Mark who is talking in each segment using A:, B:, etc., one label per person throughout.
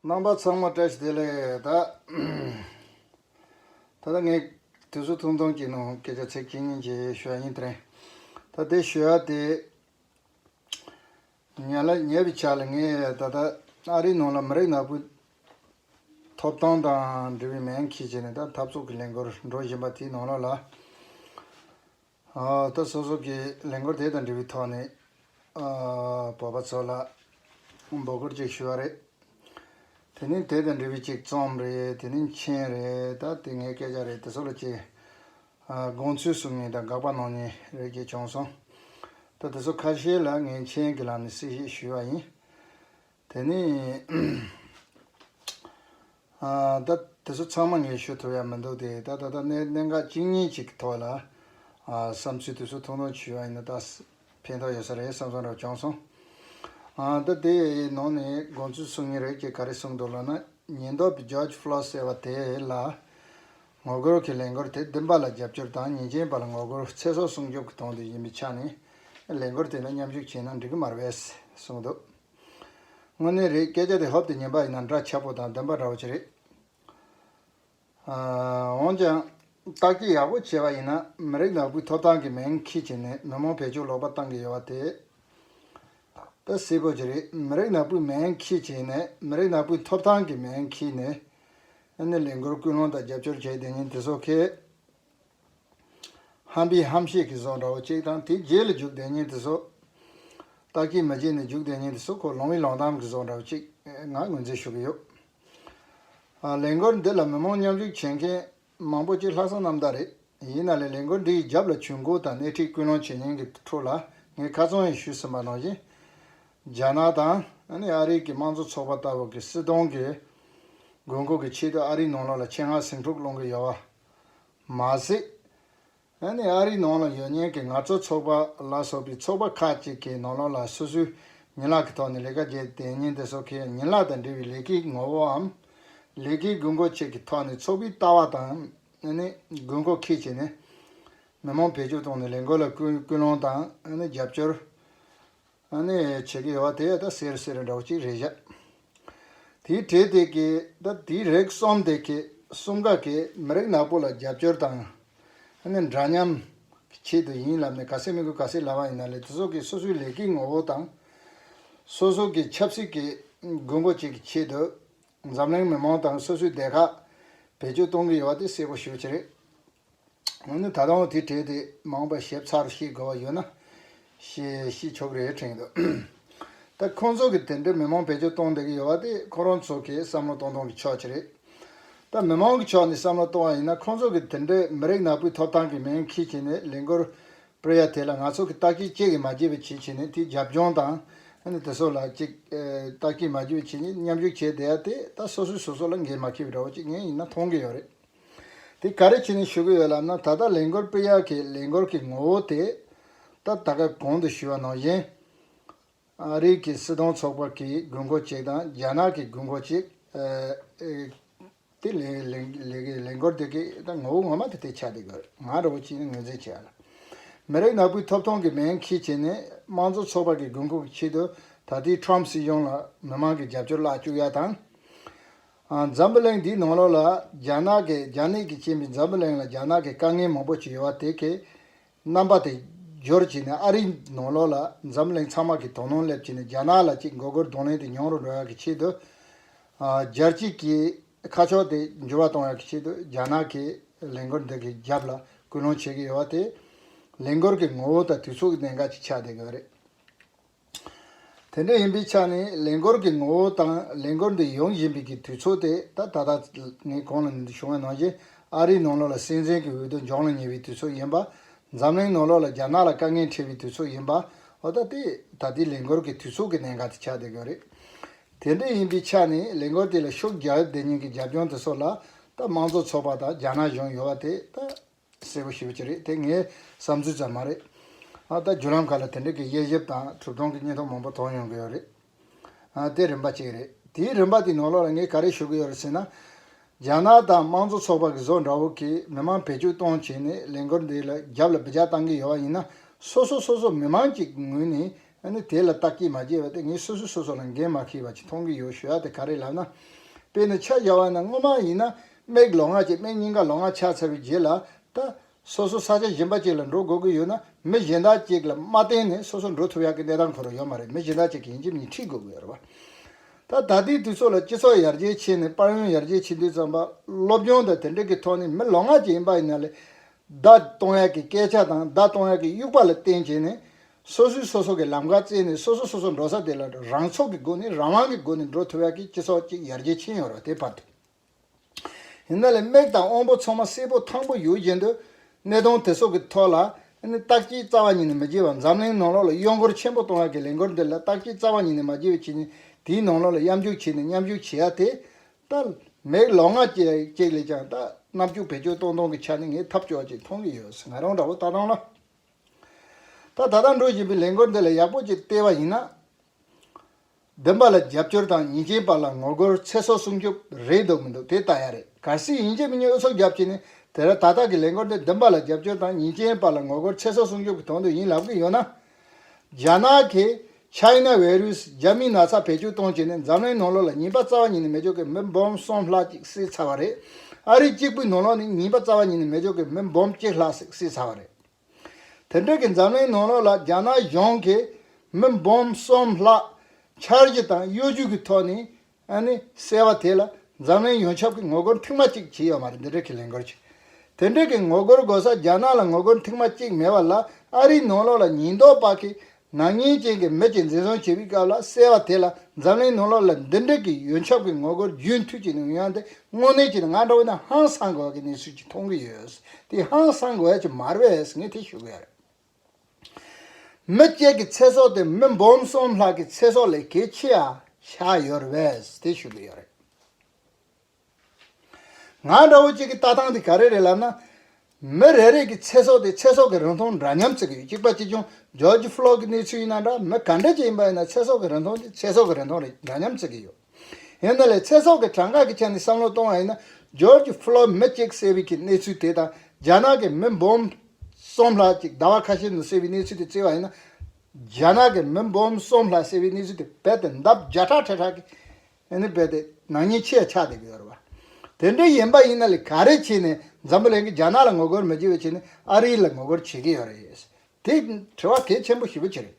A: རྣམ་པ་ཚང་མ་བཀྲ་ཤིས་བདེ་ལེགས། ད་ད་ངས་དུས་ཚོད་ཐུང་ཐུང་གི་ནང་སྐད་ཆ་ཚིག་གཅིག་གཉིས་གཅིག་ཞུ་བ་ཡིན། དྲན། ད་དེ་ཞུ་བ་དེ། ཉལ་ལ་ཉལ་བའི་ཆ་ལ་ངས་ད་ལྟ་ཨ་རིའི་ནང་ལ་མི་རིགས་ནག་པོའི། ཐོབ་ཐང་དང་འབྲེལ་བའི་མན་ཁྱི་བྱས་ནས་ད་འཐབ་རྩོད་ཀྱི་ལས་འགོར་འགྲོ་བཞིན་པ་དེའི་ནང་ལ་ལ། ལྟ་སོ་སོ་ཀྱིས་ལས་འགོ་དེ་དང་འབྲེལ་བའི་ཐོག་ནས་བོད་པ་ཚོ་ལ་འབོད་སྐུལ་ཅིག་ཞུ་བ་རེད། དེ་ནི་དེ་དང་འབྲེལ་བའི་ཅིག་རྩོམ་རེད་དེ་ནི་མཆན་རེད་ད་དེ་ངའི་སྐད་ཆ་རེད་དེ་ཚོ་ལ་ཅིག་དགོངས་ཚུལ་གསུང་ཉིན་དང་དགག་པ་གནང་ཉིན་རེད་ཅེས་བྱུང་སོང། ད་དེ་ཚོ་ཁ་ཤས་ལ་ངས་མཆན་གྱི་ལམ་ནས་གསལ་བཤད་ཞུས་བ་ཡིན། དེ་ནི། ད། དེ་ཚོ་ཚང་མ་ངས་ཤོད་ཐུབ་ཡ་མི་འདུག་སྟེ་ད་ད་ལྟ་གནས་གནས་འགག་གཅིག་གཉིས་གཅིག་གི་ཐོག་ལ། བསམ་ཚུལ་དེ་ཚོ་ཐུང་ཐུང་བྱུས་ཡ་ཡིན་ན་ད། ཕན་ཐོག་ཡོད་ས་རེད་བསམ་སོང་རབ་བྱུང་སོང། ད་དེ་ཡི་ནང་ནས་དགོངས་ཚུལ་གསུང་ངེས་རེད་ཅེས་ག་རེ་གསུང་འདུག་ལབ་ན་ཉེན་རྟོག་པའི George Floyd ཟེར་བ་དེ་ལ། ངོ་རྒོལ་གྱི་ལས་འགོར་དེ་བདུན་པ་ལ་རྒྱབ་སྐྱོར་དང་ཉེས་ཅན་པ་ལ་ངོ་རྒོལ་ཚེ་སྲོག་སྲུང་སྐྱོབ་ཀྱི་དོན་དུ་ཡིན་པའི་ཆ་ནས། ལས་འགོར་དེ་ལ་མཉམ་ཞུགས་བྱས་ན་འགྲིག་གི་མ་རེད། གསུང་འདུག། དངོས་གནས་རེད་སྐད་ཆ་དེ་ཧོབ་ཏུ་ཉན་པ་ཡིན་ན་འདྲ་ཆགས་པོ་དང་བདེན་པ་འདྲ་བོ་ཅིག་རེད། འོན་ཀྱང། བརྟག་དཔྱད་ཡག་པོ་བྱས་པ་ཡིན་ན་མི་རིགས་ནག་པོའི་ཐོབ་ཐང་གི་མིང་ཁྱི་བྱས་ནས་མི་མང་བེད་སྤྱོད་ལོག་པ་བཏང་གི་ཡོད་པ་དེ་ད་སེ་པོ་ཅིག་རེད་མི་རིགས་ནག་པོའི་མིང་ཁྱི་བྱས་ནས་མི་རིགས་ནག་པོའི་ཐོབ་ཐང་གི་མིང་ཁྱི་ནས་ནས་ལས་འགུལ་སྐུལ་སློང་དང་རྒྱབ་སྐྱོར་བྱས་དེ་ཉིན་དེ་སོག་ཁའི། ཧམ་པའི་ཧམ་བཤད་ཀྱི་ཟོག་འདྲ་བོ་གཅིག་དང་དེ་རྗེས་ལ་འཇུག་བདེ་ཉིད་དུ་ཟོག། རྟགས་ཀྱིས་མི་བྱེད་ནས་འཇུག་བདེ་ཉིད་དུ་ཟོག་གོ་ལོང་བའི་ལོང་གཏམ་གྱི་ཟོག་འདྲ་བོ་གཅིག་ངང་ངོས་འཛིན་ཞུ་གི་ཡོད། ལས་འགུལ་འདི་ལ་མི་མང་མཉམ་ཞུགས་བྱེད་མཁན་མང་པོ་གཅིག་ལྷག་བསམ་ནམ་ཟླ་རེད། ཡིན་ན་ལས་ལས་འགུལ་འདིའི་རྒྱབ་ལ་ཇུས་འགོད་དང་སྣེ་ཁྲིད་སྐུལ་སློང་བྱེད་མཁན་གྱི་ཁྲོད་ལ་ངས་ཁ་ཚོན་ཡང་ཞུས་ཟིན་པ་ནང་བཞིན། རྒྱ་ནག་དང་ཨ་རིའི་གི་དམངས་གཙོ་ཚོགས་པ་ལྟ་བུ་གི་སྲིད་དོན་གྱི་དགོས་མཁོ་གི་ཆེད་དུ་ཨ་རིའི་ནང་ལོགས་ལ་ཆེད་མངགས་ཟིང་འཁྲུག་སློང་གི་ཡོད་པ། མ་ཟད། ཨ་རིའི་ནང་ལ་ཡོད་མྱོང་གི་ང་ཚོ་ཚོགས་པ་ལ་སོགས་པའི་ཚོགས་པ་ཁག་ཅིག་གི་ནང་ལོགས་ལ་སོ་སོའི་ཉིན་ལག་གི་ཐོག་ནས་ལས་ཀ་བརྒྱད་དེ་ཉིན་དེ་སོགས་ཀྱི་ཉིན་ལག་དང་འབྲེལ་བའི་ལས་ཀའི་ངོ་བོའམ། ལས་ཀའི་དགོས་མཁོ་བཅས་ཀྱི་ཐོག་ནས་ཚོགས་པའི་ལྟ་བ་དང། དགོས་མཁོ་ཁས་བྱས་ནས། མི་མང་བེད་སྤྱོད་བཏང་ནས་ལས་འགུལ་ལ་སྐུལ་སློང་དང། རྒྱབ་སྐྱོར། ཨ་ནི། ཆེ་གེ་བ་དེ་ད་སེར་སེར་འདྲ་བོ་གཅིག་རེད་བཞག། དེའི་གྲས་དེ་གེ་ད་དེའི་རེག་གསུམ་དེ་གེ་གསུམ་ག་གེ་མི་རིགས་ནག་པོ་ལ་རྒྱབ་སྐྱོར་དང། ཨ་ནི་འདྲ་མཉམ། གི་ཆེད་དུ་ཡིན་ལབ་ནས་ག་སེ་མི་དགོས་ག་སེ་ལབ་ཨང་ཡིན་ན་ལེ་དེ་ཚོ་གེ་སོ་སོའི་ལས་ཀའི་ངོ་བོ་དང། སོ་སོ་གེ་ཆབ་སྲིད་གེ་དགོས་མཁོ་བཅས་གི་ཆེད་དུ། འཛམ་གླིང་མི་མང་དང་སོ་སོའི་སྡེ་ཁག་བེད་སྤྱོད་གཏོང་གི་ཡོད་བ་དེ་གསལ་པོ་ཞུ་བྱེད་རེད། འོ་ན་ད་དུང་དེ་བྲིས་ཏེ་མང་པ་ཞིབ་ཚགས་ཤེས་དགོས་པ་ཡོད་ན། ཞེས་གཤིས་ཆོག་རེ་དྲན་འདུག་ད་ཁོང་ཚོ་གིས་དེ་འདྲའི་མི་མང་བེད་སྤྱོད་གཏོང་བསྡད་ཀྱི་ཡོད་པ་དེ་ཁོ་རང་ཚོ་གིས་བསམ་བློ་གཏོང་གཏོང་གི་ཕྱོགས་ཀྱི་རེད། ད་མི་མང་གི་ཕྱོགས་ནས་བསམ་བློ་གཏོང་བ་ཡིན་ན་ཁོང་ཚོ་གིས་དེ་འདྲའི་མི་རིགས་ནག་པོའི་ཐོབ་ཐང་གི་མིང་ཁྱི་བྱས་ནས་ལས་འགུལ་སྤེལ་ཡ་དེ་ལ་ང་ཚོ་གིས་ལྟ་སྐྱིད་གཅིག་གིས་མ་བརྗེད་པའི་བྱེད་བྱས་ནས་དེའི་རྒྱབ་ལྗོངས་དང། དེ་སོགས་ལ་གཅིག་ལྟ་སྐྱིད་མ་བརྗེད་པའི་བྱེད་ཉམས་ཞུགས་བྱས་བསྡད་ཡ་དེ་ད་སོ་སོས་སོ་སོ་ལ་འགན་མ་ཁྱེར་བའི་འདྲ་བོ་གཅིག་ངས་ཡིན་ན་མཐོང་གི་ཡོད་རེད། དེ་ག་རེ་བྱས་ནས་ཞུ་གི་ཡོད་ལབ་ན་ད་ལྟ་ལས་འགུལ་སྤེལ་ཡག་གི་ལས་འགུལ་གི་ངོ་བོ་དེ་ད་ལྟ་ག་གོང་དུ་ཞུ་བ་ནང་བཞིན། ཨ་རིག་གི་སྲིད་དོན་ཚོགས་པ་གི་དགོས་མཁོ་གཅིག་དང་རྒྱ་ནག་གི་དགོས་མཁོ་གཅིག་དེ་ལས་འགུལ་དེ་གི་ད་ངོ་བོ་ངོ་མ་དེ་དེ་ཆགས་བསྡད་གི་ང་རང་བོ་གཅིག་ནས་ངོས་འཛིན་བྱས་ལ། མི་རིགས་ནག་པོའི་ཐོབ་ཐང་གི་མེན་ཁི་བྱས་ནས་དམངས་གཙོ་ཚོགས་པ་གི་དགོས་མཁོ་གི་ཆེད་དུ་ད་ལྟའི Trump སྲིད་གཞུང་ལ་མི་མང་གི་རྒྱབ་སྐྱོར་བརླག་བཅུག་ཡག་དང། འཛམ་བུ་གླིང་འདིའི་ནང་ལོགས་ལ་རྒྱ་ནག་གི་རྒྱ་ནད་ཀྱིས་བཅིངས་པའི་འཛམ་བུ་གླིང་ལ་རྒྱ་ནག་གི་དཀའ་ངལ་མང་པོ་ཞིག་ཡོད་པ་དེ་གའི་རྣམ་པ་དེ་སྦྱོར་བྱས་ནས་ཨ་རིའི་ནང་ལོགས་ལ་འཛམ་བུ་གླིང་ཚང་མ་གིས་དོ་སྣང་སླེབས་བྱས་ནས་རྒྱ་ནག་ལ་གཅིག་མགོ་སྒོར་གདོང་ལེན་དེ་མྱོང་རུ་འགྲོ་ཡག་གི་ཆེད་དུ། སྦྱར་སྐྱི་ཀྱི་ཁ་ཕྱོགས་དེ་འགྱུར་བ་གཏོང་ཡག་གི་ཆེད་དུ་རྒྱ་ནག་གི་ལས་འགུལ་འདི་གའི་རྒྱབ་ལ་སྐུལ་སློང་བྱེད་ཀྱི་ཡོད་པ་དེ་ལས་འགུལ་གྱི་ངོ་བོ་དང་དུས་ཚོད་ཀྱི་གནད་འགག་ཅིག་ཆགས་བསྡད་ཡོད་རེད། དེ་འདྲ་ཡིན་པའི་ཆ་ནས་ལས་འགོར་གྱི་ངོ་བོ་དང་ལས་འགོར་འདི་ཡོང་བཞིན་པའི་གི་དུས་ཚོད་དེ་ད་ད་ལྟ་ངའི་གོང་ལ་བྱུང་བའི་ནང་བཞིན་ཨ་རིའི་ནང་ལོགས་ལ་སྲིད་འཛིན་གྱི་འོས་བསྡུ་འཇོག་ལ་ཉེ་བའི་དུས་ཚོད་ཡིན་པ། འཛམ་གླིང་ནང་ལོགས་ལ་རྒྱ་ནག་ལ་དཀའ་ངལ་འཕྲད་པའི་དུས་ཚོད་ཡིན་པ། འོ་ད་དེ་ད་ལྟའི་ལས་འགོར་གྱི་དུས་ཚོད་ཀྱི་གནད་འགག་དེ་ཆགས་བསྡད་ཀྱི་རེད། དེ་འདྲ་ཡིན་པའི་ཆ་ནས་ལས་འགོར་དེ་ལ་ཤུགས་རྒྱག་བདེ་ཉེན་གྱི་རྒྱབ་ལྗོངས་དེ་ཚོ་ལ་ད་དམངས་གཙོ་ཚོགས་པ་དང་རྒྱ་ནག་གཞུང་ཡོད་པ་དེ་ད། གསལ་པོ་ཞུ་བ་ཅི་རེད་དེ་ངའི་བསམ་ཚུལ་ཙམ་མ་རེད། ད་ལྟ་བརྒྱུད་ལམ་ཁག་ལ་དེ་འབྲེལ་གྱི་དབྱེ་ཞིབ་དང་གྲུབ་དོན་གྱི་སྙན་ཐོ་མང་པོ་མཐོང་ཡོང་གི་ཡོད་རེད། དེ་རིམ་པ་གཅིག་རེད། དེའི་རིམ་པ་དེའི་ནང་ལོགས་ལ་ངས་ག་རེ་ཞུ་གི་ཡོད་རེད་ཟེར་ན། རྒྱ་ནག་དང་དམངས་གཙོ་ཚོགས་པ་གི་བཟོ་འདྲ་བོ་གིས་མི་མང་བེད་སྤྱོད་གཏོང་བྱས་ནས་ལས་འགུལ་འདི་ལ་རྒྱབ་ལ་བི་ཇ་བཏང་གི་ཡོད་བ་ཡིན་ན་སོ་སོ་སོ་སོ་མི་མང་གྱི་ངོས་ནས་ཨ་ནི་དེ་ལ་བརྟག་དཀྱིལ་མ་བྱས་པ་དེ་ངས་སོ་སོས་སོ་སོ་ལ་འགན་མ་ཁིར་བ་ཅིག་མཐོང་གི་ཡོད་ཞུ་ཡག་དེ་ག་རེད་ལབ་ན། དཔེར་ན་ཕྱག་བཞག་བ་ན་སྔོན་མ་ཡིན་ན་སྨྲེག་ལོ་སྔགས་ཀྱིས་སྨྲེག་སྙིང་ག་ལོ་སྔགས་ཕྱག་འཚལ་བའི་རྗེས་ལ་ད། སོ་སོ་ས་ཆ་གཞན་པ་ཅིག་ལ་འགྲོ་དགོས་ཀྱི་ཡོད་ན་མི་གཞན་དག་ཅིག་ལ་མ་བརྟེན་ནས་སོ་སོ་འགྲོ་ཐུབ་ཡག་གི་གནས་སྟངས་ཁོ་རང་ཡོད་མ་རེད་མི་གཞན་དག་ཅིག་གིས་ཡིན་གྱི་མིན་ཁྲིད་དགོས་ཀྱི་ཡོད་རེད་བ། ད་ད་ལྟའི་དུས་ཚོད་ལ་སྤྱི་ཚོགས་ཡར་རྒྱས་ཕྱིན་ནས་དཔར་ཡོན་ཡར་རྒྱས་ཕྱིན་དུས་ཙམ་པ་སློབ་སྦྱོང་དང་དེ་འདྲ་གི་ཐོག་ནས་མི་ལོ་སྔགས་ཀྱི་ཡིན་པ་ཡིན་ན་ལས་བརྡ་གཏོང་ཡག་གི་སྐད་ཆ་དང་བརྡ་གཏོང་ཡག་གི་དབྱུག་པ་ལ་བརྟེན་བྱས་ནས་སོ་སོས་སོ་སོ་གི་ལམ་ཁ་བཙལ་ནས་སོ་སོ་སོ་སོ་འགྲོ་ས་དེ་ལ་རང་ཚོགས་ཀྱི་སྒོ་ནས་རང་དབང་གི་སྒོ་ནས་འགྲོ་ཐུབ་ཡག་གི་སྤྱི་ཚོགས་ཅིག་ཡར་རྒྱས་ཕྱིན་ཡོང་རོགས་དེ་བར་དུ། ཡིན་ན་ལས་དམིགས་དང་དབང་པོ་ཚང་མ་སེར་པོ་ཐང་པོ་ཡོད་བཞིན་དུ། གནས་སྟངས་དེ་སོགས་ཀྱི་ཐོག་ལ། བརྟག་དཔྱད་རྩ་བ་ཉིད་ནས་མི་བགྱིས་བར་འཛམ་གླིང་ནང་ལོགས་ལ་གཡོ་འགུལ་ཆེན་པོ་གཏོང་ཡག་གི་ལས་འགུལ་འདི་ལ་བརྟག་དཔྱད་རྩ་བ་ཉིད་ནས་མ་བགྱིས་པའི་ཕྱི་ཉིན་དེའི་ནང་ལོགས་ལ་གཡམ་རྒྱུག་བྱས་ནས་མཉམ་ཞུགས་བྱེད་ཡག་དེ། ལྟར། མེག་ལོག་ང་བཅས་ལས་ཀྱང་ལྟ། རྣམ་དཔྱོད་བེད་སྤྱོད་གཏོང་སྟངས་ཀྱི་ཆ་ནས་ངས་ཐབས་སྐྱོ་བ་ཅིག་མཐོང་གི་ཡོད་ང་རང་འདྲ་བོ་ལྟ་སྟངས་ལ། ད་ལྟ་འགྲོ་བཞིན་པའི་ལས་འགུལ་འདི་ལ་ཡག་པོ་ཅིག་བལྟས་པ་ཡིན་ན། བདེན་པ་ལ་རྒྱབ་སྐྱོར་དང་ཉེས་ཅན་པ་ལ་ངོ་རྒོལ་ཚེ་སྲོག་སྲུང་སྐྱོབ་རེད་འདོད་མི་འདུག་དེ་ལྟ་ཡ་རེད་གལ་སྲིད་ཡིན་ཕྱིན་མི་ཉུང་སོ་རྒྱབ་ཀྱི་ནི་དེ་ར་ད་ལྟ་གི་ལས་འགུལ་འདི་བདེན་པ་ལ་རྒྱབ་སྐྱོར་དང་ཉེས་ཅན་པ་ལ་ངོ་རྒོལ་ཚེ་སྲོག་སྲུང་སྐྱོབ་གི་དོན་དུ་ཡིན་ལབ་ཀྱི་ཡོད་ན། རྒྱ་ནག་གིས China Virus། རྒྱ་མིའི་ན་ཚ་བེད་སྤྱོད་གཏོང་བྱེད་ནི་འཛམ་གླིང་ནང་ལོགས་ལ་ཉིན་པ་རྩ་བ་ཉིད་ནས་མེ་སྒྱོགས་ཀྱི་མེ་འབོམ་གསུམ་ལྷག་ཅིག་བསྲེས་ཚར་བ་རེད། ཨ་རི་གཅིག་པུའི་ནང་ལོགས་ནི་ཉིན་པ་རྩ་བ་ཉིད་ནས་མེ་སྒྱོགས་ཀྱི་མེ་འབོམ་གཅིག་ལྷག་ཟིག་བསྲེས་ཚར་བ་རེད། དེ་འབྲེལ་གྱི་འཛམ་གླིང་ནང་ལོགས་ལ་རྒྱ་ནག་གཞུང་གིས་མེ་འབོམ་གསུམ་ལྷག། འཆར་གཞི་དང་གཡོ་ཇུས་ཀྱི་ཐོག་ནས་ཨ་ནི་གསལ་བ་དེ་ལ་འཛམ་གླིང་ཡོངས་ཁྱབ་ཀྱི་ངོ་རྒོལ་མཐིང་མ་གཅིག་བྱེད་ཡོད་མ་རེད་འདི་འདྲའི་ཁས་ལེན་དགོས་ཆེ། དེ་འདྲའི་གི་ངོ་རྒོལ་དགོས་ས་རྒྱ་ནག་ལ་ངོ་རྒོལ་མཐིང་མ་གཅིག་མེད་པ་ལ་ཨ་རིའི་ནང་ལོགས་ལ་ཉིན་ཐོག་པགས་ཁེ་ནག་ཉེས་ཅན་གྱི་མི་གཅིག་འཛིན་བཟུང་བྱས་པའི་སྐབས་ལ་གསལ་བ་དེ་ལ་འཛམ་གླིང་ནང་ལོགས་ལ་འདི་འདྲའི་གི་ཡོན་ཁྱབ་ཀྱི་ངོ་རྒོལ་རྒྱུན་མཐུད་བྱེད་ནུས་ཡང་དེ་དངོས་གནས་ཀྱི་ང་འདྲ་བོ་ནི་ཧང་སང་དགོས་ཀྱི་གནས་ཚུལ་གཅིག་མཐོང་གི་ཡོད་དེ་ཧང་སང་དགོས་ཀྱི་མ་རེད་ངས་དེ་ཞུ་གི་ཡོད་རེད། མི་བརྒྱད་ཀྱི་ཚེ་སྲོག་དེ་མི་འབུམ་གསུམ་ལྷག་གི་ཚེ་སྲོག་ལས་གལ་ཆེ་ཡང་ཆགས་ཡོད་རེད་ཟེར་ཞུ་གི་ཡོད་རེད། ང་འདྲ་བོ་གཅིག་གི་ལྟ་སྟངས་དེ་ག་རེ་རེད་ལབ་ན། མི་རེ་རེ་གི་ཚེ་སྲོག་དེ་ཚེ་སྲོག་གི་རིན་ཐང་འདྲ་མཉམ་བརྩི་གི་ཡོད་གཅིག་པ་ཅི་བྱུང George Floyd གི་གནས་ཚུལ་ཡིན་ན་འདྲ་མི་ག་འདྲ་ཅིག་ཡིན་པ་ཡིན་ན་ཚེ་སྲོག་གི་རིན་ཐང་དེ་ཚེ་སྲོག་གི་རིན་ཐང་རེད་འདྲ་མཉམ་བརྩི་གི་ཡོད། ཡིན་ན་ལས་ཚེ་སྲོག་གི་གྲངས་ཀ་གི་ཆ་ནས་བསམ་བློ་གཏོང་བ་ཡིན་ན George Floyd མི་གཅིག་བསད་པའི་གི་གནས་ཚུལ་དེ་དང་རྒྱ་ནག་གི་མི་འབུམ་གསུམ་ལྷག་ཅིག་ཟླ་བ་ཁ་ཤས་ནང་བསད་པའི་གནས་ཚུལ་དེ་བརྩི་བ་ཡིན་ན་རྒྱ་ནག་གི་མི་འབུམ་གསུམ་ལྷག་བསད་པའི་གནས་ཚུལ་དེ་རྦད་དེ་འདབ་བརྒྱ་ཕྲག་ཁྲི་ཕྲག་གི་ནས་རྦད་དེ་ནག་ཉེས་ཆེ་ཆགས་བསྡད་ཀྱི་ཡོད་རེད་བ། དེ་འདྲ་ཡིན་པ་ཡིན་ན་ལས་ག་རེ་བྱས་ནས་འཛམ་བུ་གླིང་གི་རྒྱ་ནག་ལ་ངོ་རྒོལ་མི་བྱེད་པའི་ཆེད་ནས་ཨ་རིའི་ལ་ངོ་རྒོལ་བྱེད་ཀྱི་ཡོད་རེད། དེ་དྲི་བ་གལ་ཆེན་པོ་ཞེ་པོ་ཆེ་རེད།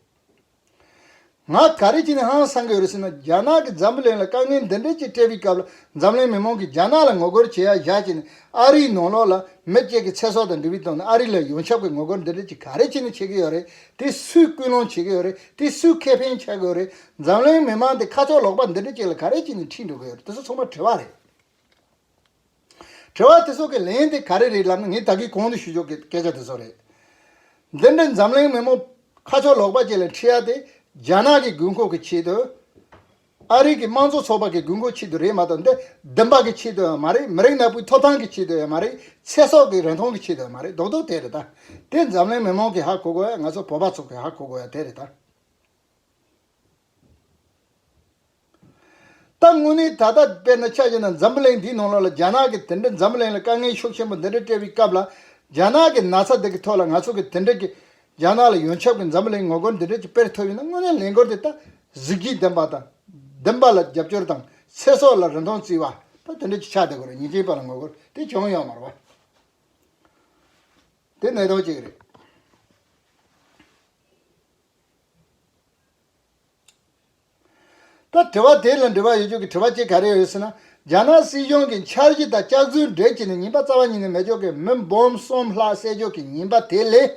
A: ང་ག་རེ་བྱས་ནས་ཧང་སང་གི་འོས་སྲིད་ན་རྒྱ་ནག་གི་འཛམ་བུ་གླིང་ལ་དཀའ་ངལ་འདི་འདྲའི་ཅིག་སྤྲད་པའི་སྐབས་ལ་འཛམ་གླིང་མི་མང་གིས་རྒྱ་ནག་ལ་ངོ་རྒོལ་བྱེད་ཡ་བཞག་བྱས་ནས་ཨ་རིའི་ནང་ལོགས་ལ་མི་བཅས་ཀྱི་ཚེ་སྲོག་དང་འབྲེལ་བའི་ཐོག་ནས་ཨ་རི་ལ་ཡོངས་ཁྱབ་ཀྱི་ངོ་རྒོལ་འདི་འདྲའི་ཅིག་ག་རེ་བྱས་ནས་བྱེད་ཀྱི་ཡོད་རེད་དེ་སུས་སྐུལ་སློང་བྱེད་ཀྱི་ཡོད་རེད་དེ་སུས་ཁེ་ཕན་ཆགས་ཀྱི་ཡོད་རེད་འཛམ་གླིང་མི་མང་དེ་ཁ་ཕྱོགས་ལོག་པ་འདི་འདྲའི་ཅིག་ལ་ག་རེ་བྱས་ནས་ཁྲིད་འགྲོ་གི་ཡོད་རེད་དེ་ཚོ་ཚང་མ་དྲི་བ་རེད། དྲི་བ་དེ་ཚོ་གི་ལན་དེ་ག་རེ་རེད་ལབ་ན་ངས་ད་གིས་གོང་དུ་ཞུ་ཆོག་གི་སྐད་ཆ་དེ་ཚོ་རེད། འདི་འདྲའི་འཛམ་གླིང་མི་མོ། ཁ་ཕྱོགས་ལོག་པ་བཅས་ལ་འཁྲི་ཡ་དེ་རྒྱ་ནག་གི་དགོས་མཁོ་གི་ཆེད་དུ། ཨ་རིག་གི་དམངས་གཙོ་ཚོགས་པ་གི་དགོས་མཁོ་ཆེད་དུ་རེད་མ་གཏོགས་འདི་བདུན་པ་གི་ཆེད་དུ་ཡང་མ་རེད་མི་རིགས་ནག་པོའི་ཐོབ་ཐང་གི་ཆེད་དུ་ཡང་མ་རེད་ཚེ་སྲོག་གི་རིན་ཐང་གི་ཆེད་དུ་ཡང་མ་རེད་རྡོག་རྡོག་དེ་རེད་ད། དེ་འཛམ་གླིང་མི་མང་གིས་ཧ་གོ་དགོས་ཡ་ང་ཚོ་བོད་པ་ཚོ་གིས་ཧ་གོ་དགོས་ཡ་དེ་རེད་ད། ད་དངོས་གནས་ད་ལྟ་དཔེར་ན་ཆ་བཞག་ན་འཛམ་བུ་གླིང་འདིའི་ནང་ལོགས་ལ་རྒྱ་ནག་གིས་དེ་འདྲའི་འཛམ་བུ་གླིང་ལ་དཀའ་ངལ་ཤུགས་ཆེན་པོ་འདི་འདྲ་སྤྲད་པའི་སྐབས་ལ་རྒྱ་ནག་གི་ན་ཚ་དེ་གི་ཐོག་ལ་ང་ཚོ་གིས་དེ་འདྲ་གི་རྒྱ་ནག་ལ་ཡོན་ཆབ་གི་འཛམ་བུ་གླིང་ངོ་རྒོལ་འདི་འདྲ་གི་དཔེར་ཐོབ་ཡོད་ན་དངོས་གནས་ལས་འགོར་དེ་ལྟ་གཟིགས་ཀྱིས་བདེན་པ་དང་བདེན་པ་ལ་རྒྱབ་སྐྱོར་དང་ཚེ་སྲོག་ལ་རིན་ཐོང་བརྩི་བ་ད་དེ་འདྲ་གི་ཆ་དེ་གོ་རེ་ཉིན་གཅིག་པ་ལ་ངོ་རྒོལ་དེ་བྱུང་ཡོད་མ་རེད་པ། དེ་གནད་དོན་གཅིག་རེད། ད་དྲི་བ་དེ་ལ་འགྲེལ་བ་ཡོད་རྒྱུ་གི་དྲི་བ་གཅིག་ག་རེ་ཡོད་ཟེར་ན་རྒྱ་ནག་སྲིད་གཞུང་གི་འཆར་གཞི་དང་ལྕགས་རྫུན་འགྲེལ་བྱས་ནས་ཉིན་པ་རྩ་བ་ཉིད་ནས་མེ་སྒྱོགས་ཀྱི་མི་འབུམ་གསུམ་ལྷག་བསད་རྒྱུ་གི་ཉིན་པ་དེ་ལས་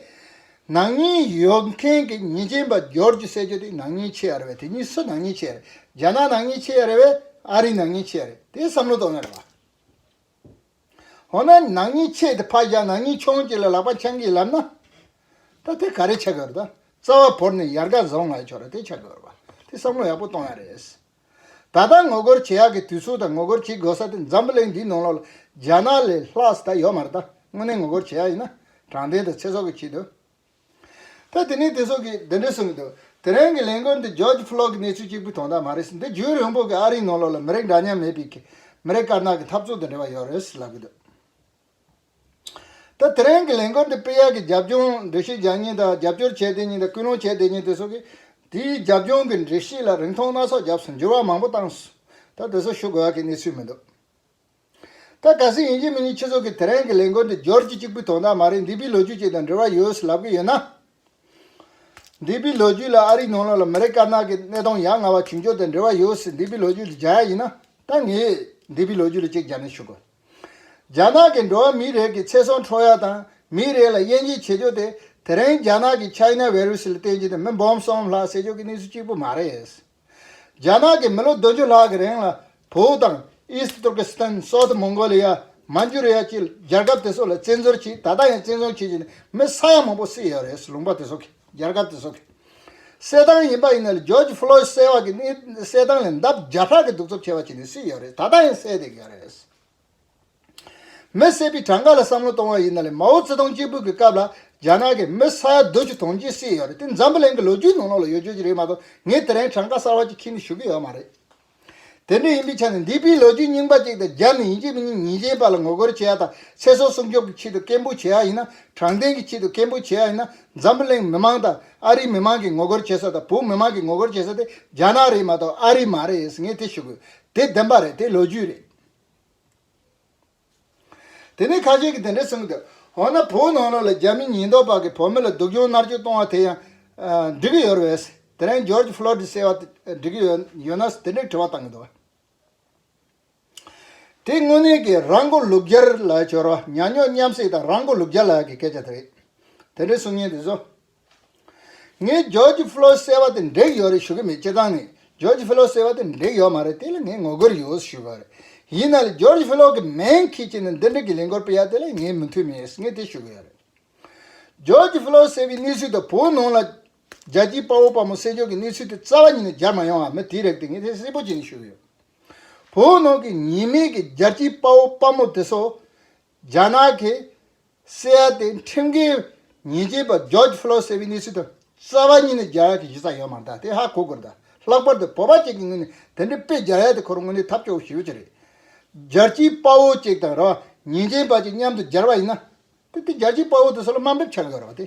A: ནག་ཉེས་ཡོད་མཁན་གྱི་ཉེས་ཅན་པ་སྦྱོར་རྒྱུ་བསད་རྒྱུ་དེ་ནག་ཉེས་ཆེ་ཡ་རེད་བས་དེ་གཉིས་སུ་ནག་ཉེས་ཆེ་ཡ་རེད་རྒྱ་ནག་ནག་ཉེས་ཆེ་ཡ་རེད་བས་ཨ་རི་ནག་ཉེས་ཆེ་ཡ་རེད་དེ་བསམ་བློ་གཏོང་ཡ་རེད་བ། འོ་ན་ནག་ཉེས་ཆེ་སྟེ་ཕག་བཞག་ནག་ཉེས་ཆུང་གཅིག་ལ་ལག་པ་འཆང་གིས་ལབ་ན། ད་དེ་ག་རེ་བྱ་དགོས་རེད་ད། རྩ་བ་བོར་ནས་ཡར་དགའ་བཟང་ལ་ཕྱོགས་རེད་དེ་བྱ་དགོས་རེད་བ། དེ་བསམ་བློ་ཡག་པོ་གཏོང་ཡ་རེད། ད་ལྟ་ངོ་རྒོལ་བྱེད་ཡག་གི་དུས་ཚོད་དང་ངོ་རྒོལ་བྱེད་དགོས་ས་དེ་འཛམ་བུ་གླིང་འདིའི་ནང་ལོག་ལ་རྒྱ་ནག་ལས་ལྷག་ས་ད་ཡོད་མ་རེད་ད་དངོས་གནས་ངོ་རྒོལ་བྱེད་ཡག་ཡིན་ན་དྲང་བདེན་དང་ཚེ་སྲོག་གི་ཆེད་དུ། ཐོས་དེ་ནས་དེ་སོགས་ཀྱིས་འདི་འདྲས་གསུངས་ཀྱི་འདུག་དེ་རིང་གི་ལས་འགུལ་འདི George Floyd གྱི་གནས་ཚུལ་གཅིག་པུའི་དོན་དག་མ་རེད་ཟེར་འདི་རྒྱུན་རིང་པོ་གི་ཨ་རིའི་ནང་ལོགས་ལ་མི་རིགས་འདྲ་མཉམ་མེད་པའི་གི་མི་རིགས་དཀར་ནག་གི་འཐབ་རྩོད་དང་འབྲེལ་བ་ཡོད་རེད་ཟེར་ལབ་ཀྱི་འདུག་ད་དེ་རིང་གི་ལས་འགུལ་འདི་སྤེལ་ཡག་གི་རྒྱབ་ལྗོངས་འགྲེལ་བཤད་བྱ་ཉིན་དང་རྒྱབ་སྐྱོར་བྱས་བསྡད་ཉིན་དང་སྐུལ་སློང་བྱས་བསྡད་ཉིན་དེ་སོགས་ཀྱིས་དེའི་རྒྱབ་ལྗོངས་གི་འགྲེལ་བཤད་ལ་རིང་ཐུང་སྣ་ཚོགས་རྒྱབས་སུ་འགྱུར་བ་མང་པོ་བཏང་སོང་ད་དེ་སོགས་ཞུ་དགོས་ཡག་གི་གནས་ཚུལ་མི་འདུག། ད་ག་སྲིད་ཡིན་གཅིག་མིན་གཉིས་ཁྱེད་ཚོ་གིས་དེ་རིང་གི་ལས་འགུལ་འདི་སྦྱོར་གྱི་གཅིག་པུའི་དོན་དག་མ་རེད་འདི་པའི་ལོ་རྒྱུས་ཅིག་དང་འབྲེལ་བ་ཡོད་ཟེར་ལབ་ཀྱི་ཡོད་ན། འདི་པའི་ལོ་རྒྱུས་ལ་ཨ་རིའི་ནང་ལོགས་ལ་མི་རེ་དཀར་ནག་གི་གནས་སྟངས་ཡ་ང་བ་བྱུང་ཕྱོགས་དང་འབྲེལ་བ་ཡོད་ཟེར་འདི་པའི་ལོ་རྒྱུས་འདི་སྦྱར་ཡ་ཡིན་ན་ད་ངས་འདི་པའི་ལོ་རྒྱུས་ལ་གཅིག་སྦྱར་ནས་ཞུ་དགོས། རྒྱ་ནག་གི་འགྲོ་བ་མིའི་རེས་ཀྱི་ཚེ་སྲོག་འཕྲོག་ཡ་དང་མིའི་རེས་ལ་དབྱེ་འབྱེད་བྱེད་ཕྱོགས་དེ་དེ་རིང་རྒྱ་ནག་གི China Virus ལ་བརྟེན་གྱི་དེ་མི་འབུམ་གསུམ་ལྷག་བསད་ཕྱོགས་ཀྱི་གནས་ཚུལ་གཅིག་པུ་མ་རེད། རྒྱ་ནག་གིས་མི་ལོ་བདུན་ཅུ་ལྷག་གི་རིང་ལ་བོའུ་དང East Turkestan South Mongolia Manchuria བཅས་རྒྱལ་ཁབ་དེ་ཚོ་ལ་བཙན་འཛུལ་བྱས་ད་ལྟ་ཡང་བཙན་བཟུང་བྱེད་བཞིན་པའི་མི་ས་ཡ་མང་པོ་བསད་ཡོད་རེད་ལུང་པ་དེ་ཚོ་གིས་རྒྱལ་ཁབ་དེ་ཚོ་གི་བསད་སྟངས་ཡིན་པ་ཡིན་ནའི George Floyd བསད་བ་གི་བསད་སྟངས་ལས་འདབ་བརྒྱ་ཕྲག་གི་གདུག་རྩུབ་ཆེ་བ་བྱས་ནས་བསད་ཡོད་རེད་ད་ལྟ་ཡང་བསད་བསྡད་ཀྱི་ཡོད་རེད། མི་བསད་པའི་གྲངས་ཀ་ལ་བསམ་བློ་གཏོང་བ་ཡིན་ན་ལེ་མའོ་ཙེ་ཏུང་སྐྱེས་བུ་གི་སྐབས་ལ་རྒྱ་ནག་གི་མི་ས་ཡ་བདུན་ཅུ་དུང་ཅིའི་སྲིད་ཡོད་རེད་དེ་འཛམ་བུ་གླིང་གི་ལོ་རྒྱུས་ནང་ནང་ལ་ཡོད་རྒྱུ་ཅི་རེད་མ་གཏོགས་ངས་དེ་རིང་གྲངས་ཀ་གསར་བ་ཅིག་ཁྱེར་ནས་ཞུ་གི་ཡོད་མ་རེད། དེ་འདྲ་ཡིན་པའི་ཆ་ནས་འདས་པའི་ལོ་རྒྱུས་རྙིང་པ་ཅིག་དང་རྒྱ་མི་ཡིན་གཅིག་མི་ཡིན་ཉིན་གཞན་པ་ལ་ངོ་རྒོལ་བྱེད་ཡ་དང་ཚེ་སྲོག་སྲུང་སྐྱོབ་ཀྱི་ཆེད་དུ་སྐད་འབོད་བྱེད་ཡ་ཡིན་ན་དྲང་བདེན་གྱི་ཆེད་དུ་སྐད་འབོད་བྱེད་ཡ་ཡིན་ན་འཛམ་བུ་གླིང་མི་མང་དང་ཨ་རིའི་མི་མང་གིས་ངོ་རྒོལ་བྱེད་ས་དང་བོད་མི་མང་གིས་ངོ་རྒོལ་བྱེད་ས་དེ་རྒྱ་ནག་རེད་མ་གཏོགས་ཨ་རི་མ་རེད་ངས་དེ་ཞུ་གི་ཡོད་དེ་བདེན་པ་རེད་དེ་ལོ་རྒྱུས་རེད། དེ་ནས་ཁ་ཤས་ཀྱིས་དེ་འདྲ་གསུངས་འདུག་འོ་ན་བོད་ནང་ལོགས་ལ་རྒྱ་མི་ཉེན་རྟོག་པ་གིས་བོད་མི་ལ་སྡུག་སྦྱོང་མནར་གཅོད་གཏོང་བ་དེ་ཡང་འགྲིག་གི་ཡོད་རེད། དེ་རིང་རྗོར་ཇི་ཕློ་ཏི་ཟེར་བ་དེ་འགྲིག་གི་ཡོད་ན་དེ་འདྲའི་དྲི་བ་བཏང་གི་འདུག་དེ་དངོས་གནས་ཀྱི་རང་མགོ་ལུག་རྒྱར་ལ་བྱོལ་བ་ཉག་ཉོག་མཉམ་བསྲེས་དང་རང་མགོ་ལུག་རྒྱ་ལགས་ཀྱི་སྐད་ཆ་དེ་རེད། དེ་འདྲའི་གསུང་སྙན་དེ་ཚོ་ངས་རྗོར་ཇི་ཕི་ལོ་སེ་བ་དེ་འགྲིག་ཡོད་རེད་ཞུ་གི་མེད་སྤྱིར་བཏང་ངས་རྗོར་ཇི་ཕི་ལོ་སེ་བ་དེ་འགྲིག་ཡོད་མ་རེད་དེ་ལ་ངས་ངོ་རྒོལ་ཡོད་ཞུས་པ་རེད། ཡིན་ན་ལ་རྗོར་ཇི་ཕི་ལོ་གི་མིང་ཁྱེད་ཀྱིས་ནི་འདི་འགྲིག་གི་ལས་འགོར་སྤེལ་ཡ་དེ་ལ་ངས་མི་མཐུན་མེད་ངས་དེ་ཞུ་གི་ཡོད་རེད། རྗོར་ཇི་ཕི་ལོ་སེ་བའི་གནས་ཚུལ་དང་བོད་ནང་ལ། རྒྱལ་སྤྱིའི་དཔའ་བོ་དཔའ་མོ་སྲས་མཆོག་གི་གནས་ཚུལ་དེ་རྩ་བ་ཉིད་ནས་སྦྱར་མ་ཡོང་བ་མི་དེ་རེད་དེ་ངས་དེ་གསལ་པོ་བྱས་ནས་ཞུ་གི་ཡོད། བོད་ནང་གི་ཉེས་མེད་ཀྱི་རྒྱལ་སྤྱིའི་དཔའ་བོ་དཔའ་མོ་དེ་ཚོ། རྒྱ་ནག་གི་སི་ཨའེ་ཏེ་ཁྲིམས་འགལ་ཉེས་ཅན་པ་ཇོརྗ་ཧྥེ་ལོ་སེ་བྷི་ནི་སི་དང་རྩ་བ་གཉིས་ནི་རྒྱ་གར་གྱི་གཞི་རྩ་ཡོད་མ་འདང་སྟེ་ཧ་གོ་དགོས་འདུག་ལྷག་པར་དུ་བོད་པ་བཅས་ཀྱི་ངོས་ནས་དེ་འདྲའི་དཔེ་རྒྱ་ཡལ་དེ་ཁོ་རང་ངོས་ནས་ཐབས་སྐྱོ་བོ་ཞིག་ཡོད་ཀྱི་རེད། རྒྱལ་སྤྱིའི་དཔའ་བོ་བཅས་དང་རང་ཉེས་ཅན་པ་བཅས་མཉམ་དུ་སྦྱར་བ་ཡིན་ན། དེ་དེ་རྒྱལ་སྤྱིའི་དཔའ་བོ་དེ་ཚོ་ལ་དམའ་འབེབས་བྱ་གི་ཡོད་རེད་པ་དེ།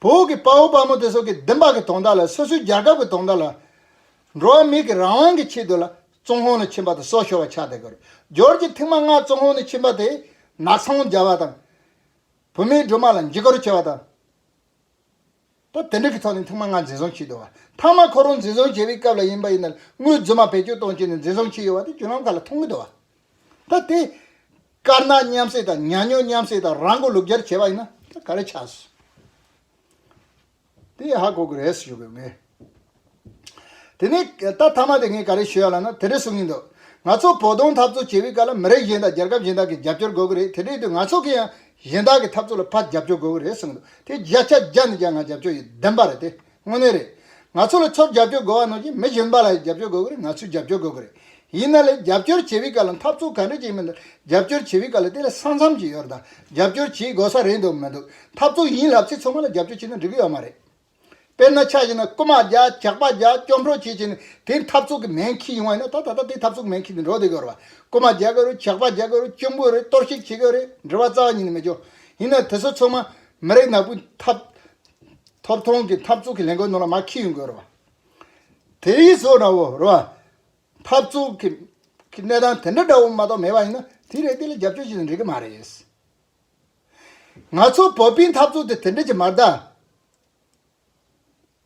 A: བོད་ཀྱི་དཔའ་བོ་དཔའ་མོ་དེ་ཚོ་གིས་བདུན་ཕག་གི་དོང་དག་ལ་སོ་སོའི་རྒྱལ་ཁབ་ཀྱི་དོང་དག་ལ། འགྲོ་བ་མིག་གི་རང་དབང་གི་ཆེད་དུ་ལ་ཙུང་ཧོང་ནས་ཕྱིན་པ་དང་སོག་ཤོར་བ་ཆགས་དེ་གོ་རྒྱོར་གྱི་མཐིང་མ་ལྔ་ཙུང་ཧོང་ནས་ཕྱིན་པ་དེས་ནག་ཚོང་སྦྱར་བ་དང། བུད་མེད་སྦྲུམ་མ་ལ་འཇིགས་སྐོར་བྱས་པ་དང། པོ་དེ་འབྲེལ་གྱི་ཐོག་ནས་ཐེངས་མ་ལྔ་འཛིན་བཟུང་བྱས་འདུག་ཐང་མ་ཁོ་རང་འཛིན་བཟུང་བྱས་པའི་སྐབས་ལ་ཡིན་པ་ཡིན་ནར་དངུལ་རྫུན་མ་བེད་སྤྱོད་གཏོང་བྱས་ནས་འཛིན་བཟུང་བྱས་ཡོད་པ་དེ་བརྒྱུད་ལམ་ཁག་ལ་མཐོང་གི་འདུག་ད་དེ། དཀར་ནག་མཉམ་བསྲེས་དང་ཉག་ཉོག་མཉམ་བསྲེས་དང་རང་མགོ་ལུག་རྒྱར་བྱས་པ་ཡིན་ན་ད་ག་རེ་ཆགས། དེ་ཧ་གོ་གི་རེད་ཞུ་གི་ངས། དེ་ནས་ད་ཐ་མ་དེ་ངས་ག་རེ་ཞུ་ཡ་ལ་ན་དེ་འདྲ་གསུང་གིན་འདུག་ང་ཚོ་བོ་དོང་འཐབ་རྩོད་བྱེད་པའི་སྐབས་ལ་མི་རིགས་གཞན་དག་རྒྱལ་ཁབ་གཞན་དག་གི་རྒྱབ་སྐྱོར་དགོས་གི་རེད་དེ་འདྲའི་དུས་ང་ཚོ་གི་ཡང་གཞན་དག་གི་འཐབ་རྩོད་ལ་ཕར་རྒྱབ་སྐྱོར་དགོས་གི་རེད་གསུང་འདུག་དེ་རྒྱ་ཆ་རྒྱ་ནི་ཀྱང་ང་རྒྱབ་སྐྱོར་ཡི་བདེན་པ་རེད་དེ་དངོས་གནས་རེད་ང་ཚོ་ལ་ཚོར་རྒྱབ་སྐྱོར་དགོས་བ་ནོར་གྱི་མི་གཞན་པ་ལ་ཡང་རྒྱབ་སྐྱོར་དགོས་གི་རེད་ང་ཚོས་རྒྱབ་སྐྱོར་དགོས་གི་རེད་ཡིན་ན་ལ་རྒྱབ་སྐྱོར་བྱེད་པའི་སྐབས་ལ་འཐབ་རྩོད་ག་འདྲ་བྱེད་མི་འདུག་རྒྱབ་སྐྱོར་བྱེད་པའི་སྐབས་ལ་དེ་ལ་ས་མཚམས་ཀྱི་ཡོད་རེད་ད་རྒྱབ་སྐྱོར་བྱེད་དགོས་ས་རེད་འདུག་མི་འདུག་འཐབ་རྩོད་ཡིན་ལབ་ཚེ་ཚང་མ་ལ་རྒྱབ་སྐྱོར་བྱེད་ན་འགྲིག་གི་ཡོད་མ་རེད། དཔེར་ན་ཆ་ཞིག་ན་རྐུན་མ་བརྒྱ་ཇག་པ་བརྒྱ་སྐྱོབ་འགྲོ་བྱེད་ཅིང་དེའི་འཐབ་རྩོད་ཀྱི་མེན་ཁྱི་ཡོང་བ་ཡིན་ན་ད་ད་ལྟ་དེའི་འཐབ་རྩོད་ཀྱི་མེན་ཁྱི་དེ་འགྲོ་བསྡད་གི་རེད་བ། རྐུན་མ་བརྒྱ་དགོས་རེད་ཇག་པ་བརྒྱ་དགོས་རེད་སྐྱོབ་དགོས་རེད་གཏོར་བཤིག་བྱེད་དགོས་རེད་འབྲེལ་བ་རྩ་བ་ཉིད་ནས་མི་འཇོག། ཡིན་ན་དེ་ཚོ་ཚང་མ་མི་རིགས་ནག་པོའི་ཐབས་ཐོབ་ཐང་གི་འཐབ་རྩོད་ཀྱི་ལས་འགུལ་ནང་ལ་མ་ཁྱི་ཡོང་དགོས་རེད་བ། དེ་ཡིས་བཟོ་འདྲ་བོ་རེད་བ། འཐབ་རྩོད་ཀྱི་གནས་སྟངས་དེ་འདྲ་འདྲ་བོ་མ་གཏོགས་མེད་པ་ཡིན་ན་དེའི་རེ་ལྡེ་ལ་རྒྱབ་སྐྱོར་བྱེད་ཚུལ་འགྲིག་གི་མ་རེད། ང་ཚོ་བོད་པའི་འཐབ་རྩོད་དེ་དེ་འདྲ་ཅིག་མ་རེད།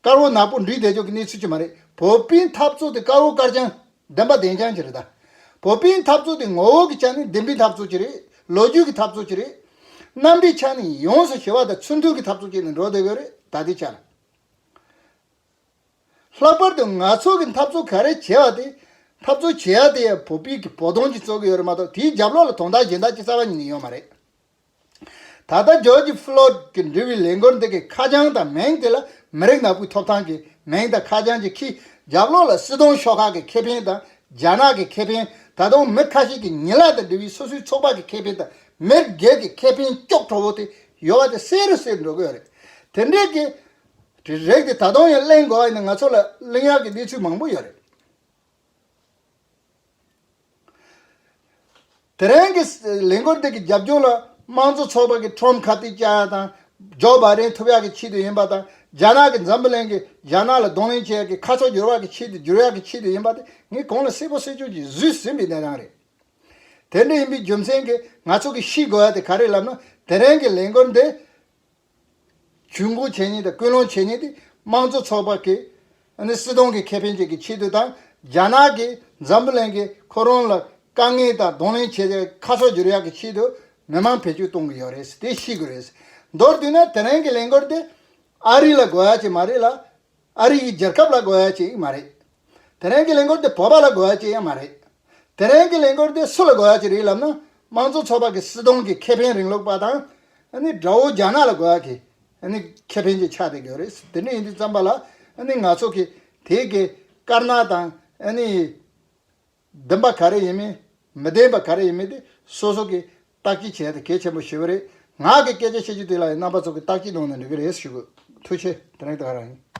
A: དཀར་བོ་ནག་པོ་འབྲི་བསྡད་ཆོག་གི་གནས་ཚུལ་ཅིག་མ་རེད། བོད་པའི་འཐབ་རྩོད་དེ་དཀར་བོ་དཀར་ཅང། བདེན་པ་བདེན་ཅང་ཅིག་རེད། བོད་པའི་འཐབ་རྩོད་དེ་ངོ་བོ་གི་ཆ་ནས་བདེན་པའི་འཐབ་རྩོད་ཅིག་རེད། ལོ་རྒྱུས་ཀྱི་འཐབ་རྩོད་ཅིག་རེད། རྣམ་པའི་ཆ་ནས་ཡོངས་སུ་ཞི་བ་དང་ཚུར་མཐུན་གྱི་འཐབ་རྩོད་བྱས་ནས་འགྲོ་བསྡད་དགོས་རེད་ད་ལྟའི་ཆར། ལྷག་པར་དུ་ནག་ཚོགས་ཀྱི་འཐབ་རྩོད་ག་རེ་བྱེད་པ་དེ། འཐབ་རྩོད་བྱེད་ཡ་དེ་ཡང་བོད་པའི་གི་བོ་དོང་གི་རྩོད་གི་ཡོད་རེད་མ་གཏོགས་དེའི་རྒྱབ་ལོག་ལ་དོང་དག་གཞན་དག་ཅི་ས་བ་ཉིད་ནས་ཡོད་མ་རེད། ད་ལྟ George Floyd གི་འབྲི་བའི་ལས་འགོར་འདི་གི་ཁ་བྱང་དང་མེང་དེ་ལ་མི་རིགས་ནག་པོའི་ཐོབ་ཐང་གི་མེང་དང་ཁ་བྱང་གི་ཁི་རྒྱབ་ལོག་ལ་སྲིད་དོང་ཤོག་ཁག་གི་ཁེ་ཕན་དང་རྒྱ་ནག་གི་ཁེ་ཕན་ད་དོང་མི་ཁ་ཤས་གི་ཉི་ལག་དང་འབྲི་བའི་སོ་སོའི་ཚོགས་པ་གི་ཁེ་ཕན་དང་མེར་སྒེར་གི་ཁེ་ཕན་ཀྱོག་ཁྲོ་བོ་དེ་ཡོད་བ་དེ་སེ་རུ་སེ་འགྲོ་གི་ཡོད་རེད་དེ་འདྲའི་གི། དེ་རེད་དེ་ད་དུང་ཡང་གླེང་དགོས་ཡིན་ན་ང་ཚོ་ལ་གླེང་ཡག་གི་གནས་ཚུལ་མང་པོ་ཡོད་རེད། དེ་རིང་གི་ལས་འགུལ་འདི་གི་རྒྱབ་སྐྱོར་ལ་དམངས་གཙོ་ཚོགས་པ་གི་ཁྲོམ་ཁ་ཏི་ཅཱ་ཡ་དང་ཇོ་བཱ་རེན་ཐུབ་ཡག་གི་ཆེད་དུ་ཡིན་པ་དང་རྒྱ་ནག་གི་འཛམ་བུ་གླིང་གི་རྒྱ་ནག་ལ་གདོང་ལེན་བྱེད་ཡག་གི་ཁ་ཕྱོགས་འགྱུར་བ་གི་ཆེད་དུ་འགྱུར་ཡག་གི་ཆེད་དུ་ཡིན་པ་དེ་ངས་གོང་ལ་གསལ་པོ་གསལ་བྱུང་གིས་བཟོས་ཟིན་པའི་གནས་སྟངས་རེད། དེ་འདྲ་ཡིན་པའི་རྒྱུ་མཚན་གྱིས་ང་ཚོ་གིས་ཤེས་དགོས་ཡག་དེ་ག་རེད་ལབ་ན་དེ་རིང་གི་ལས་འགུལ་འདི་ཇུས་འགོད་བྱས་ཉེས་དང་སྐུལ་སློང་བྱས་ཉེས་དེ་དམངས་གཙོ་ཚོགས་པ་དེ་སྲིད་དོན་གྱི་ཁེ་ཕན་བཅས་ཀྱི་ཆེད་དུ་དང་རྒྱ་ནག་གིས་འཛམ་བུ་གླིང་གིས་ཁོ་རང་ལ་དཀའ་ངལ་དང་གདོང་ལེན་བྱེད་སའི་ཁ་ཕྱོགས་བསྒྱུར་ཡག་གི་ཆེད་དུ་མི་མང་བེད་སྤྱོད་གཏོང་གི་ཡོད་རེད་དེ་ཤེས་དགོས་རེད། མདོར་བསྡུས་ན་དེ་རིང་གི་ལས་འགུལ་དེ་ཨ་རི་ལ་དགོས་ཡ་ཅིག་མ་རེད་ལ། ཨ་རི་ཡི་རྒྱལ་ཁབ་ལ་དགོས་ཡག་ཅིག་མ་རེད། དེ་རིང་གི་ལས་འགུལ་འདི་བོད་པ་ལ་དགོས་ཡག་ཅིག་ཡང་མ་རེད། དེ་རིང་གི་ལས་འགུལ་འདི་སུ་ལ་དགོས་ཡག་ཅིག་རེད་ལབ་ན་དམངས་གཙོ་ཚོགས་པ་གི་སྲིད་སྟོང་གི་ཁེ་ཕན་རིང་ལུགས་པ་དང། དགྲ་བོ་རྒྱ་ནག་ལ་དགོས་ཡག་གི་ཁེ་ཕན་གྱི་ཆ་དེ་དགོས་རེད། དེ་འདྲ་ཡིན་དུས་བརྩམས་པ་ལ་ང་ཚོ་གི་དེ་གི་དཀར་ནག་དང་བདེན་པ་ག་རེ་ཡིན་མིན་མི་བདེན་པ་ག་རེ་ཡིན་མིན་དེ་སོ་སོ་གི་བརྟག་དཔྱད་བྱས་ཏེ་གལ་ཆེན་པོ་ཞུ་གི་རེད། ངག་གི་སྐད་ཆ་བཤད་རྒྱུ་དེ་ལ་ཡང་རྣམ་པ་ཚོ་གི་བརྟག་དཔྱད་གནང་ནས་འགྲོ་གི་རེད་ཞུ་གི། ཐུགས་ཆེ་དེ་རིང་ད་ག་རང་ཡིན།